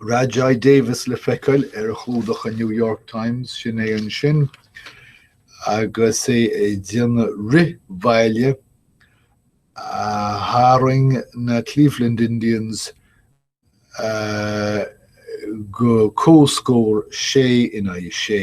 Rajai Davis le feiceáil ar chlúdach an New York Times, sin é ansin agus é ag déanamh rith bhaile a tharraing na Cleveland Indians go comhscór sé in aghaidh sé.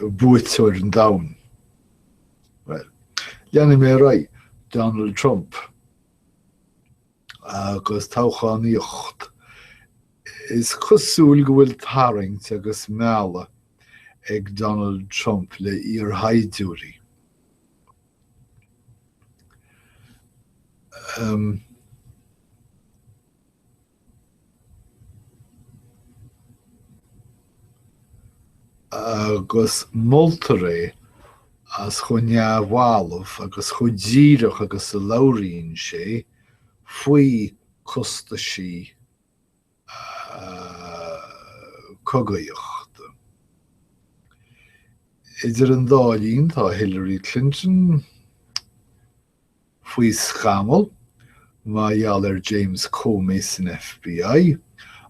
Buaiteoir an domhain. Leanfaidh mé ar aghaidh. Donald Trump agus toghchánaíocht. Is cosúil go bhfuil tarraingt agus mealladh ag Donald Trump le iarshaighdiúirí. Um, agus moltar é as chomh neamhbhalbh agus chomh díreach agus a labhraíonn sé faoi costaisí cogaíochta. Idir an dá linn, tá Hillary Clinton, faoi scamall mar gheall ar James Comey san FBI,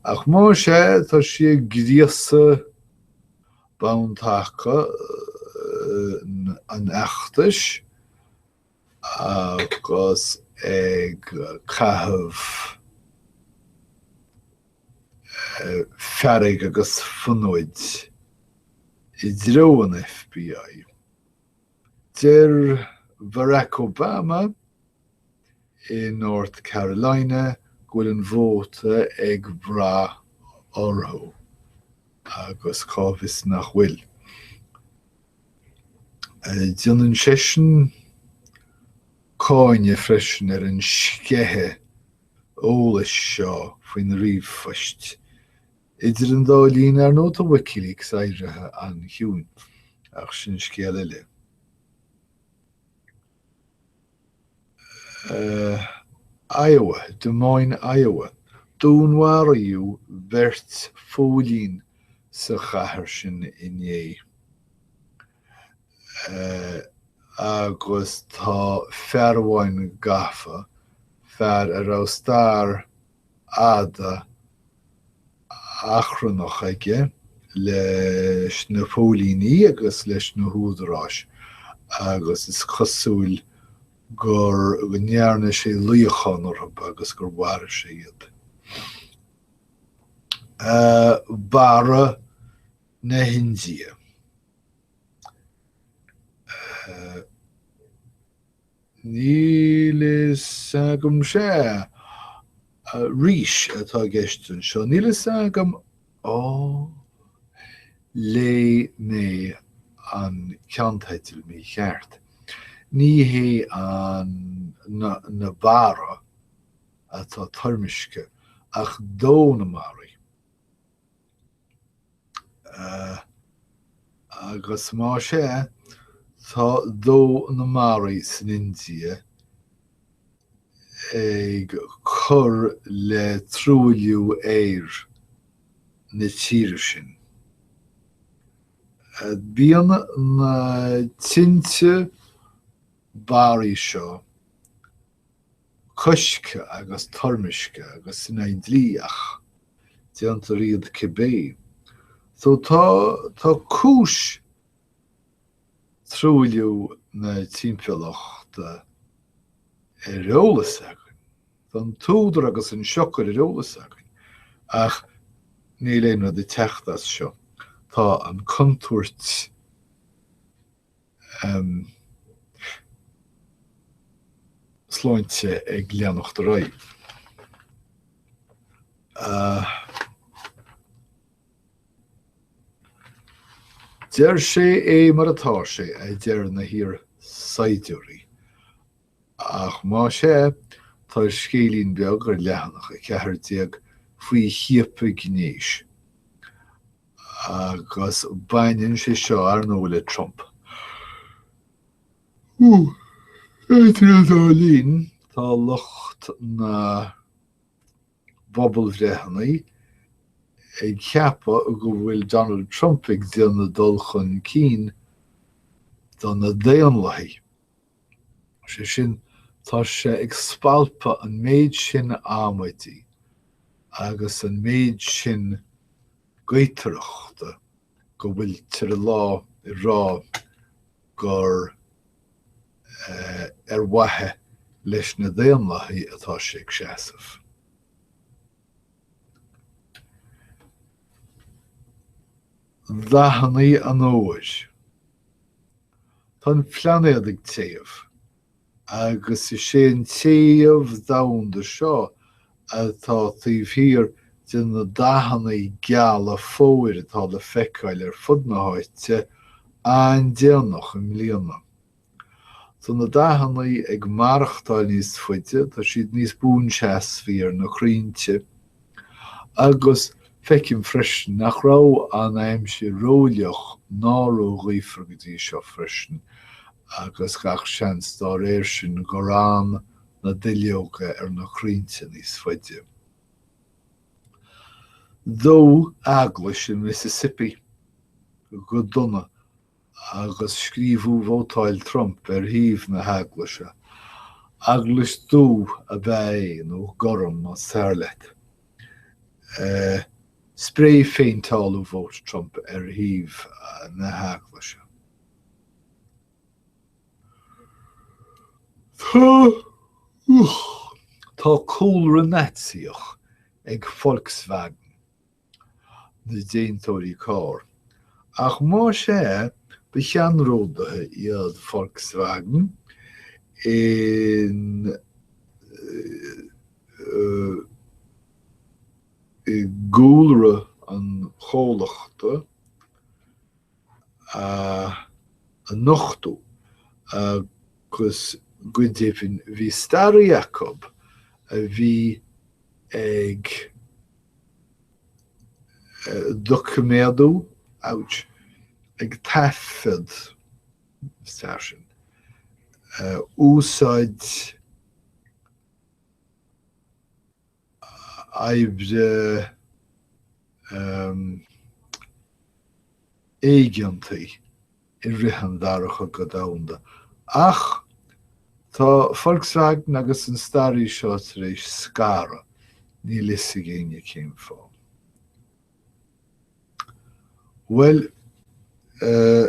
ach más é, tá sí ag gríosadh bonn taca an fheachtais agus ag caitheamh fearg agus fonóid i dtreo an FBI. Deir Barack Obama i North Carolina go bhfuil an vóta ag brath orthu, agus cá bhfios nach bhfuil. Déanann seisean cáineadh freisin ar an sceitheadh eolais seo faoina ríomhphoist Idir an dá linn, ar ndóigh, tá Wikileaks éirithe an-chiúin, ach sin scéal eile. Iowa, Des Moines, Iowa. Dúnmharaíodh beirt phóilín sa chathair sin inné agus tá fear amháin gafa, fear a raibh stair fhada achrannach aige leis na póilíní agus leis na húdaráis agus is cosúil gur ndearna sé luíochán orthu agus gur mharaigh sé iad. Mara na hIndia. Níl fhios agam. Sea, rís atá i gceist anseo. Níl fhios agam. Ó, léigh mé an ceannteidil mícheart. Ní hé an na barra atá toirmiscthe ach dó na mbarraí. agus más ea, tá dó na mbarraí san India ag cur le truailliú aeir na tíre sin. Bíonn na tinte barraí seo coiscthe agus toirmiscthe agus in aghaidh dlí ach déantar iad cibé. So tá tá cúis truailliú na timpeallachta ar eolas againn. Tá an t-údar agus an siocair ar eolas againn ach níl aon rud ag teacht as seo. Tá an contúirt sláinte ag leanacht ar aghaidh. Deir sé é mar atá sé, a deir na hiarshaighdiúirí. Ach más ea, tá scéilín beag ar leathanach 14 faoi chiapadh gnéis, agus baineann sé seo, ar ndóigh, le Trump. Idir an dá linn, tá lucht na bpobalbhreitheanna ag ceapadh go bhfuil Donald Trump ag déanamh dul chun cinn do na Daonlathaigh. Sé sin, tá sé ag spalpadh an méid sin amaidí agus an méid sin gaotaireachta go bhfuil tir i lá ag rá gur ar mhaithe leis na Daonlathaigh atá sé ag seasamh. Dathanna an fhómhair Tá an plainéad ag téamh, agus is é an téamh domhanda seo atá taobh thiar de na dathanna geala fómhair atá le feiceáil ar fud na háite an-déanach i mbliana. Tá na dathanna ag maireachtáil níos faide, tá siad níos buanseasmhaí ar na crainnte, agus feicim freisin nach raibh an aimsir rófhliuch ná róghaofar go dtí seo freisin agus gach seans dá réir sin gur fhan na duilleoga ar na crainnte níos faide. Dódh eaglais in Mississippi go dona agus scríobhadh Vótáil Trump ar thaobh na hEaglaise. Eaglais dhubh ab ea é, nó gorm, más fearr leat. Sprae-phéinteáladh Vote Trump ar thaobh na hEaglaise. Tá cúlra Naitsíoch ag Volkswagen, na déantóirí carr, ach más ea, ba cheannródaithe iad Volkswagen in i gcúlra an chomhlachta, a nochtadh agus go deimhin bhí staraí acu a bhí ag doiciméadú, ouch, ag taifead, stair sin, úsáid oibre éigeantaí i rith an Dara Cogadh Domhanda. Ach tá Volkswagen agus an staraí seo tar éis scaradh, níl a fhios ag éinne cén fáth. Bhuel, eh,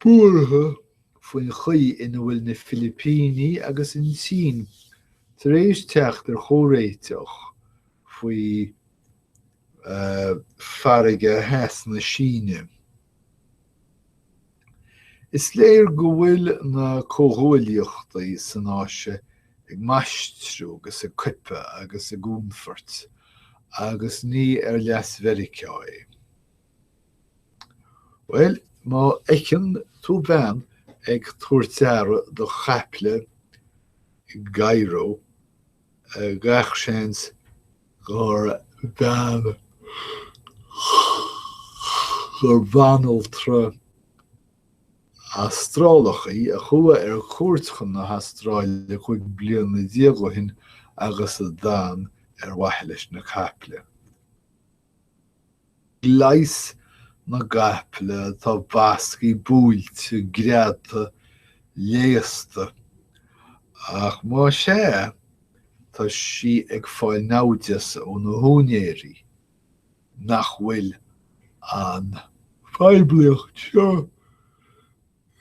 buartha faoin chaoi ina bhfuil na Filipíní agus an tSín tar éis teacht ar chomhréiteach faoi Farraige Theas na Síne. Is léir go bhfuil na comhghuaillíochtaí san Áise ag maistriú agus ag coipeadh agus ag únfairt, agus ní ar leas Mheiriceá é. Bhuel, má fheiceann tú bean ag tabhairt aire do chaiple i gCairo, gach seans gur bean gur banaltra Astrálach í a chuaigh ar cuairt chun na hAstráile cúig bliana déag ó shin agus a d'fhan ar mhaithe leis na caiple. Leigheas na gcaiple atá basctha buailte greadta léasta, ach más ea, tá sí ag fáil naimhdeas ó na húinéirí, nach bhfuil an phoiblíocht seo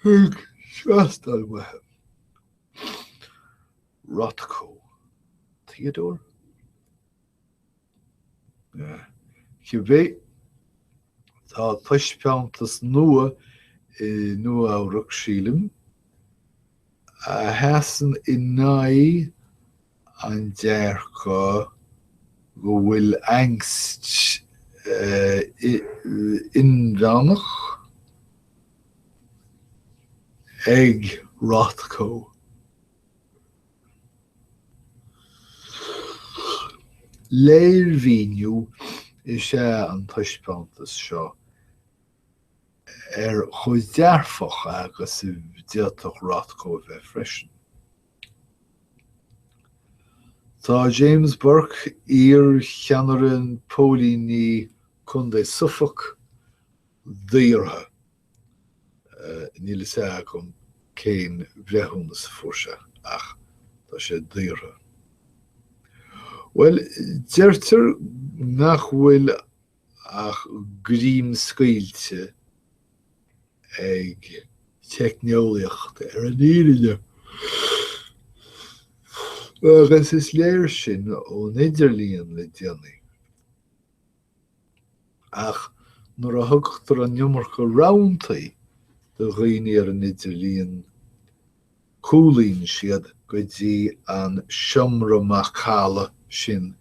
ag teastáil uathu. Rothko, Theodore? Cibé, tá taispeántas nua i Nua-Eabhrac, sílim, a sheasann in aghaidh an dearcadh go bhfuil Angst inmheánach ag Rothko. Léirmhíniú is ea an taispeántas seo ar chomh dearfach agus a d'fhéadfadh Rothko a bheith freisin. Tá James Burke, iar-Cheannaire Póilíní Contae Suffolk, daortha. Níl fhios agam cén bhreithiúnas a fuair sé ach tá sé daortha. Bhuel, deirtear nach bhfuil ach greim scaoilte ag teicneolaíocht ar an fhírinne. Agus is léir sin ón idirlíon le déanaí. Ach nuair a thugtar an iomarca roghantaí do dhaoine ar an idirlíon, cúlaíonn siad go dtí an seomra macalla sin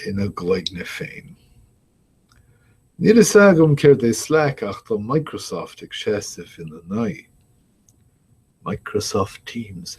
ina gcloigne féin. Níl fhios agam céard é Slack ach tá Microsoft ag seasamh ina n-aghaidh. Microsoft Teams.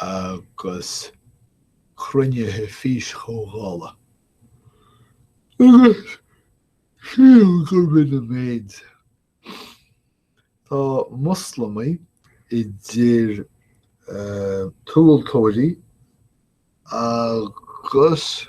agus cruinnithe físchomhdhála, agus sílim gurb in an méid. Tá Moslamaigh, idir tomhaltóirí agus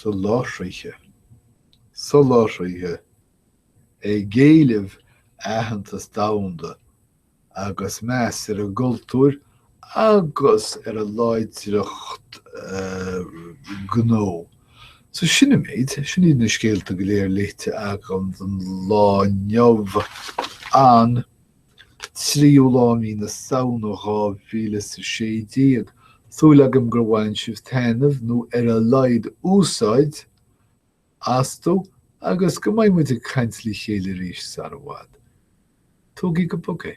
soláthraithe soláthraithe ag éileamh aitheantas domhanda agus meas ar a gcultúir agus ar a láidreacht gnó. So sin an méid, sin iad na scéalta go léir léite agam don lá inniu. An. 3ú lá mí na Samhna 2016, súil agam gur bhain sibh taitneamh, nó ar a laghad úsáid, astu agus go mbeidh muid ag caint le chéile arís sara bhfad. Tógaí go bog é.